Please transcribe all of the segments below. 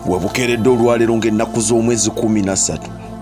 webukeeredde olwaleero ng'ennaku z'omwezi 13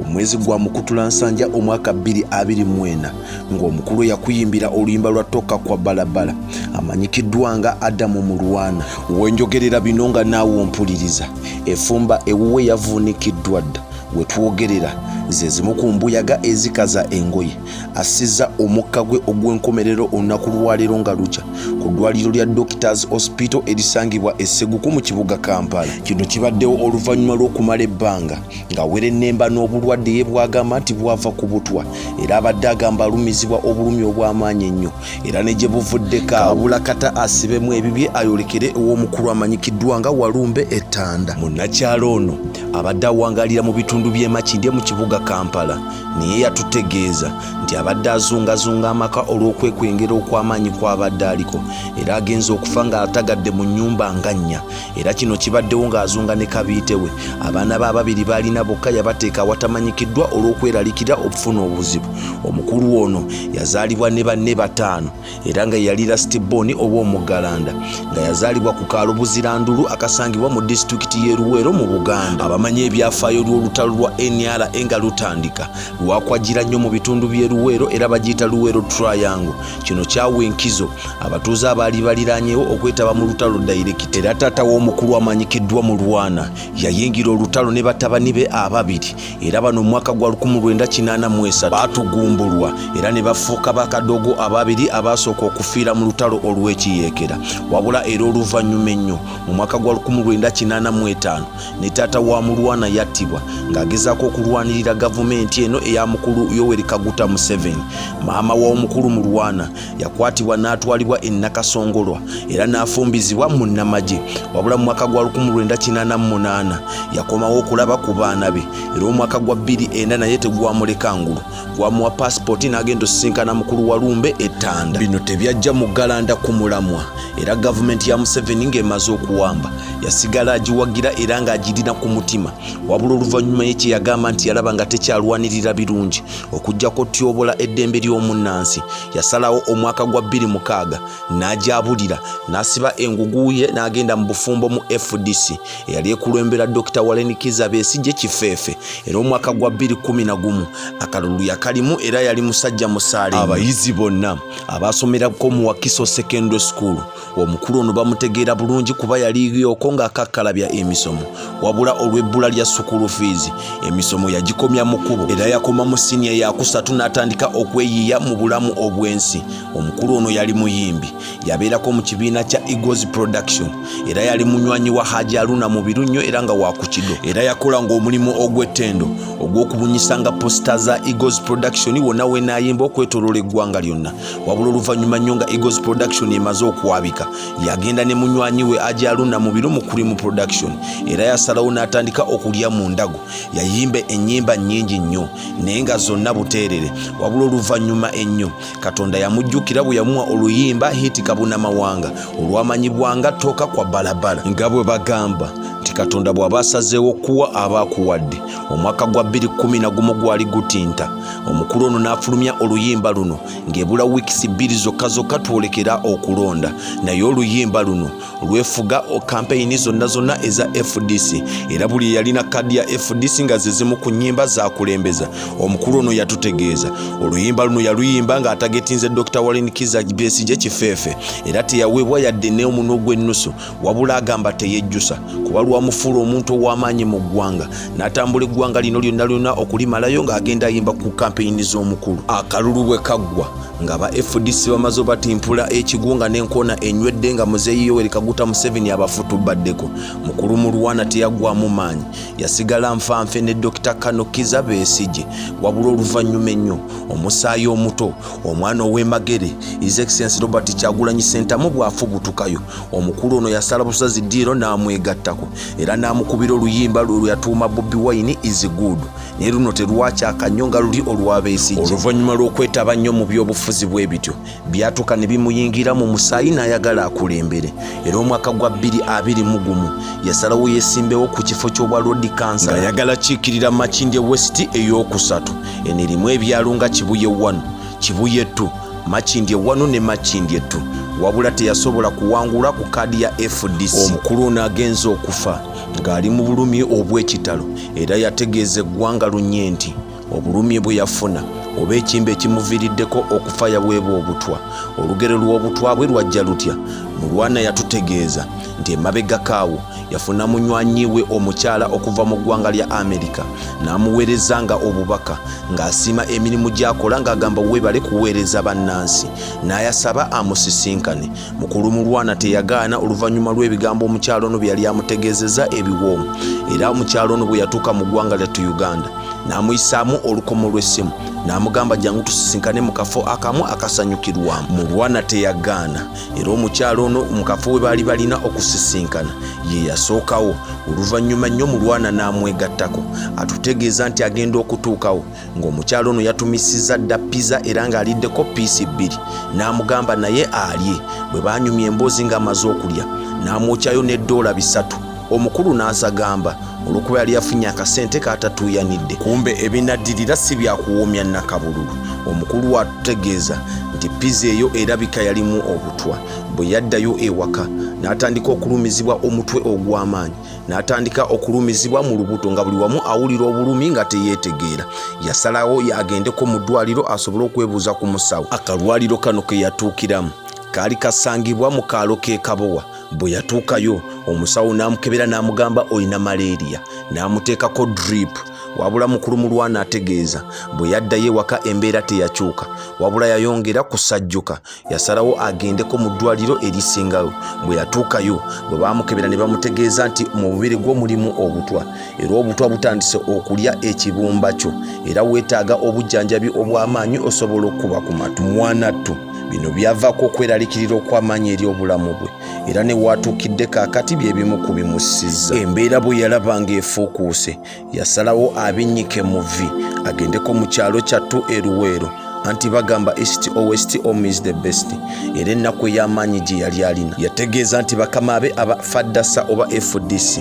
omwezi gwa mukutula nsanja omwaka 224 ng'omukulu eyakuyimbira oluyimba lwa toka kwa balabala amanyikiddwa nga adamu mulwana wenjogerera bino nga naawe ompuliriza efumba ewuwe yavuunikiddwa dda wetwogerera zezimu ku mbuyaga ezikaza engoye assizza omukka gwe ogw'enkomerero olunaku lwaleero nga lukya ku ddwaliro lya doctors hospital erisangibwa esseguku mu kibuga kampala kino kibaddewo oluvannyuma lw'okumala ebbanga nga werennemba n'obulwadde ye bwagamba nti bwava ku butwa era abadde agamba alumizibwa obulumi obw'amaanyi ennyo era ne gye buvuddeko abula kata asibemu ebibye ayolekere ew'omukulu amanyikiddwa nga walumbe ettanda munnakyalo ono abadde awangalira mu bitundu by'emakindye mu kibuga kampala naye yatutegeeza nti abadde azungazunga amaka olw'okwekwengera okw'amaanyi kw'abadde aliko era agenze okufa ng'atagadde mu nnyumba nga nnya era kino kibaddewo ng'azunga ne kabiite we abaana be ababiri baalina bokka yabateeka awatamanyikiddwa olw'okweralikira okufuna obuzibu omukulu ono yazaalibwa ne banne bataano era nga yali lasitibooni ow'omuggalanda nga yazaalibwa ku kaalo buzirandulu akasangibwa mu disitulikiti y'e luweero mu buganda abamanyi ebyafaayo lw'olutalo lwa nra nga lutandika lwakwajjira nnyo mu bitundu by'e luweero era bagiyita luweero triango kino kyawa enkizo abatuuze abaali baliranyewo okwetaba mu lutalo dayirekita era taata w'omukulu amanyikiddwa mu lwana yayingira olutalo ne batabani be ababiri era bano mu mwaka gwa 1983 baatugumbulwa era ne bafuuka bakadogo ababiri abaasooka okufiira mu lutalo olw'ekiyeekera wabula era oluvannyuma ennyo mu mwaka gwa 1985 ne taata wa mulwana yattibwa ng'agezaako okulwanirira gavumenti eno eya mukulu yoweri kaguta museveni maama w'omukulu mulwana yakwatibwa n'atwalibwa e Nakasongolwa era n'afumbizibwa mu nnamagye wabula mu mwaka gwa 1988 yakomawo okulaba ku baana be era omwaka gwa 24 naye tegwamuleka ngulu gwamuwa paasipooti n'agenda osisinkana mukulu wa lumbe ettanda bino tebyajja mu galanda ku mulamwa era gavumenti ya museveni ng'emaze okuwamba yasigala agiwagira era ng'agirina ku mutima wabula oluvannyuma ye kye yagamba nti yalaba nga tekyalwanirira birungi okujja kotyobola eddembe ly'omunnansi yasalawo omwaka gwa 26 n'agyabulira n'asiba engugu ye n'agenda mu bufumbo mu fdc eyali ekulembera dr walenikiza besigye kifeefe era omwaka gwa 211 akalulu yakalimu era yali musajja musaale abayizi bonna abaasomerako mu wakiso secondary school omukulu ono bamutegeera bulungi kuba yaliyooko ng'akakkalabya emisomo wabula olw'ebbula lya sukulu fiizi emisomo yagikomya mu kkubo era yakoma mu siniya yakusatu n'atandika okweyiiya mu bulamu obw'ensi omukulu ono yali muyimbi yabeerako mu kibiina kya egos production era yali munywanyi wa haji aluna mubiru nnyo era nga wakukido era yakola ng'omulimu ogw'ettendo ogw'okubunyisanga posita za egos production wonna wenaayimba okwetoloola eggwanga lyonna wabula oluvannyuma nnyo nga eagles production emaze okwabika yagenda ne munywanyi we ajaluna mu biro mu cream production era yasalawo n'atandika okulya mu ndago yayimba ennyimba nnyingi nnyo naye nga zonna buteerere wabula oluvannyuma ennyo katonda yamujjukira bwe yamuwa oluyimba hiti kabuna mawanga olwamanyibwanga tooka kwa balabala nga bwe bagamba nti katonda bw'aba asazeewo okuwa aba akuwadde omwaka gwa 2 gumu gwali gutinta omukulu ono n'afulumya oluyimba luno ng'ebula wiikisi bbiri zokka zokka twolekera okulonda naye oluyimba luno lwefuga kampeyini zonna zonna eza fdc era buli eyalina kaadi ya fdc nga ze zimu ku nnyimba zaakulembeza omukulu ono yatutegeeza oluyimba luno yaluyimba ng'atagetinze dr wallen kiza besigye kifeefe era teyaweebwa yadde n'omuno gw'ennusu wabula agamba teyejjusa kuba lwamufuula omuntu ow'amaanyi mu ggwanga n'atambula eggwanga lino lyonna lyonna okulimalayo ng'agenda ayimba ku kampeyini z'omukulu akalulu bwe kaggwa nga ba fdc bamaze obatimpula ekigunga n'enkoona enywedde nga muzeeyi yoweri kaguta museveni abafutubaddeko mukulu mulwana teyaggwamu maanyi yasigala nfanfe ne dokita kano kiza besigye wabula oluvannyuma ennyo omusaayi omuto omwana ow'emagere is excellence robert kyagulanyi sentamu bw'afubutukayo omukulu ono yasala busazi diiro n'amwegattako era n'amukubira oluyimba lwe lweyatuuma bobi wine is good naye luno terwakyaka nnyo nga luli olwabeesigye oluvannyuma lw'okwetaba nnyo mu byobufuzi bwe bityo byatuuka ne bimuyingira mu musaayi n'ayagala akulembere era omwaka gwa bbiri abiri mu gumu yasalawo yeesimbewo ku kifo ky'obwa lodi kansa ng'ayagala kiikirira makindye west ey'okusatu eno erimu ebyalo nga kibuye wano Kibuye 2, Makindye 1 ne Makindye 2 wabula teyasobola kuwangula ku kaadi ya fdc. Omukulu ono agenze okufa ng'ali mu bulumi obw'ekitalo era yategeeza eggwanga lunye nti obulumi bwe yafuna oba ekimba ekimuviiriddeko okufa yaweebwa obutwa olugero lw'obutwa bwe lwajja lutya mulwana yatutegeeza nti emabegakaawo yafuna munywanyi we omukyala okuva mu ggwanga lya amerika n'amuweereza nga obubaka ng'asiima emirimu gy'akola ng'agamba weebale kuweereza bannansi n'ayasaba amusisinkane mukulu mulwana teyagaana oluvannyuma lw'ebigambo omukyalo ono bye yali amutegeezeza ebiwoomu era omukyalo ono bwe yatuuka mu ggwanga lyattu uganda n'amuyisaamu olukomo lw'essimu n'amugamba jangu tusisinkane mu kafo akamu akasanyukirwamu mulwana teyagaana era omukyalo ono mu kafo we baali balina okusisinkana ye yasookawo oluvannyuma nnyo mulwana n'amwegattako atutegeeza nti agenda okutuukawo ng'omukyalo ono yatumisizza dda pizza era ng'aliddeko piisi bbiri n'amugamba naye alye bwe baanyumya emboozi ng'amaze okulya n'amwokyayo ne doola bisatu omukulu n'azagamba olw'okuba yali yafunye akasente kaatatuuyanidde kumbe ebinaddirira si byakuwoomya nakabululu omukulu waatutegeeza nti piza eyo erabika yalimu obutwa bwe yaddayo ewaka n'atandika okulumizibwa omutwe ogw'amaanyi n'atandika okulumizibwa mu lubuto nga buli wamu awulira obulumi nga teyeetegeera yasalawo yagendeko mu ddwaliro asobole okwebuuza ku musawo akalwaliro kano ke yatuukiramu kaali kasangibwa mu kaalo k'e kabowa bwe yatuukayo omusawo n'amukebera n'amugamba olina malaria n'amuteekako drip wabula mukulu mulwana ategeeza bwe yaddayo ewaka embeera teyakyuka wabula yayongera kusajjuka yasalawo agendeko mu ddwaliro erisingayo bwe yatuukayo bwe baamukebera ne bamutegeeza nti mu bubiri gwo mulimu obutwa era obutwa butandise okulya ekibumba kyo era weetaaga obujjanjabi obw'amaanyi osobola okukuba ku matu mwanattu bino byavaako okweralikirira okw'amaanyi eri obulamu bwe era ne waatuukidde kaakati bye bimu ku bimussizza embeera bwe yalaba ng'efuukuuse yasalawo abinnyike mu vi agendeko mu kyalo kyattu eruweero anti bagamba east o west om is the best era ennaku ey'amaanyi gye yali alina yategeeza nti bakama be aba fadasa oba fdc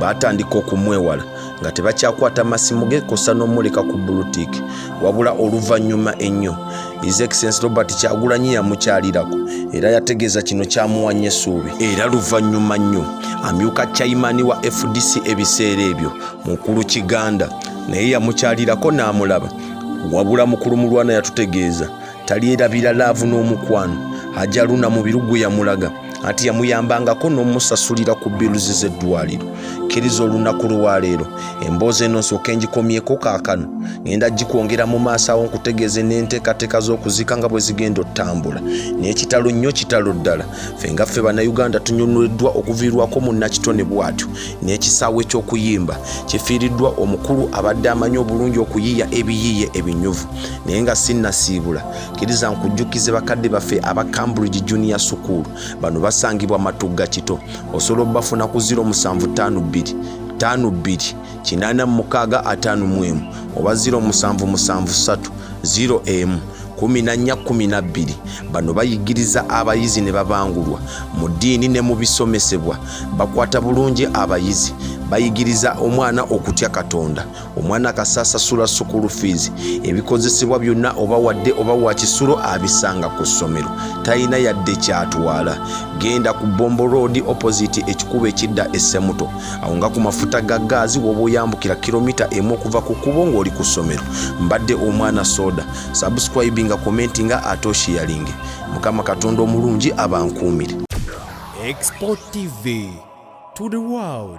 baatandika okumwewala nga tebakyakwata masimu ge kosa n'omuleka ku bulutik wabula oluvannyuma ennyo his excellence robert kyagulanyi yamukyalirako era yategeeza kino kyamuwanya essuubi era luvannyuma nnyo amyuka chaimani wa fdc ebiseera ebyo mukulu kiganda naye yamukyalirako n'amulaba wabula mukulu mulwana yatutegeeza talyerabira laavu n'omukwano ajaluna mu birugu yamulaga anti yamuyambangako n'omusasulira ku biluzi z'eddwaliro kkiriza olunaku lwaleero emboozi eno nsooka engikomyeko kaakano ngenda gikwongera mu maaso awo nkutegeeze n'enteekateeka z'okuziika nga bwe zigenda otambula n'ekitalo nnyo kitalo ddala fe nga ffe bannayuganda tunyunuliddwa okuviirwako munnakitone bw'atyo n'ekisaawe ky'okuyimba kifiiriddwa omukulu abadde amanyi obulungi okuyiiya ebiyiiye ebinyuvu naye nga sinnasiibula kiriza nkujjukize bakadde baffe aba cambridge junior sukuulu bano basangibwa matugga kito osobola obafuna ku 0752 52 kinana mukaaga ataano mu emu oba 0773 0 emu kumi na nnya kumi na bbiri bano bayigiriza abayizi ne babangulwa mu ddiini ne mu bisomesebwa bakwata bulungi abayizi bayigiriza omwana okutya katonda omwana kasasasula sukulu fiizi ebikozesebwa byonna oba wadde oba wa kisulo abisanga ku ssomero talina yadde kyatwala genda ku bombo road opposite ekikubo ekidda essemuto awo nga ku mafuta ga gaazi woba oyambukira kilomita emu okuva ku kkubo ng'oli ku ssomero mbadde omwana soda subscribinga komenti nga atoshiyalinge mukama katonda omulungi abankuumire export tv to the world